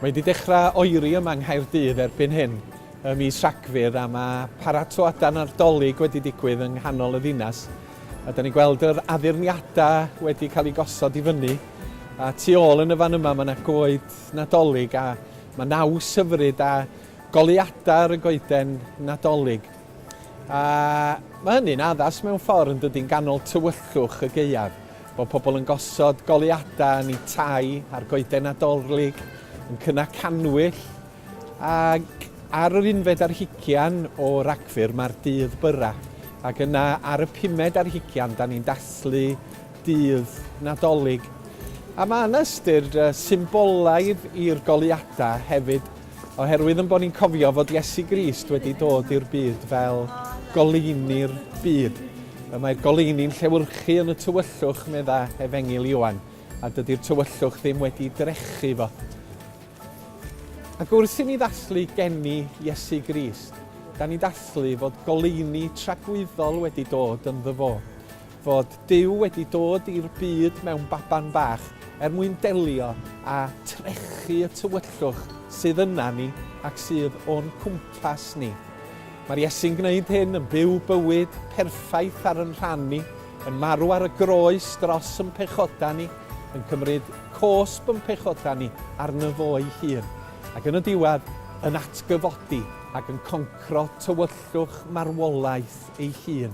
Mae wedi dechrau oeri yma yng Nghaerdydd erbyn hyn ym mis Rhagfyr a mae paratoadau Nadolig wedi digwydd yng nghanol y ddinas. A da ni'n gweld yr addurniadau wedi cael eu gosod i fyny. A tu ôl yn y fan yma mae yna goed Nadolig a mae naws hyfryd a goleuadau ar y goeden Nadolig, a mae hynny'n addas mewn ffordd yn dydy'n ganol tywyllwch y gaeaf, bod pobl yn gosod goleuadau yn eu tai ar goeden Nadolig, yn cynnau cannwyll, ac ar yr unfed ar hugian o Ragfyr mae'r dydd byrrau, ac yna ar y pumed ar hugian da ni'n dathlu dydd Nadolig. A mae yna ystyr symbolaidd i'r goleuadau hefyd. Oherwydd yn bod ni'n cofio fod Iesu Grist wedi dod i'r byd fel goleuni'r byd. Y mae'r goleuni'n llewyrchu yn y tywyllwch, medda Efengil Ioan, a dydy'r tywyllwch ddim wedi drechu fo. Ac wrth i ni ddathlu geni Iesu Grist, da ni'n dathlu fod goleuni tragwyddol wedi dod ynddo fo. fod Duw wedi dod i'r byd mewn baban bach er mwyn delio â trechu y tywyllwch sydd yna ni ac sydd o'n cwmpas ni. Mae'r Iesu'n gwneud hyn, yn byw bywyd perffaith ar yn rhan ni, yn marw ar y groes dros yn pechodau ni, yn cymryd cosb yn pechodau ni arno fo'i hun, ac yn y diwedd yn atgyfodi ac yn concro tywyllwch marwolaeth ei hun.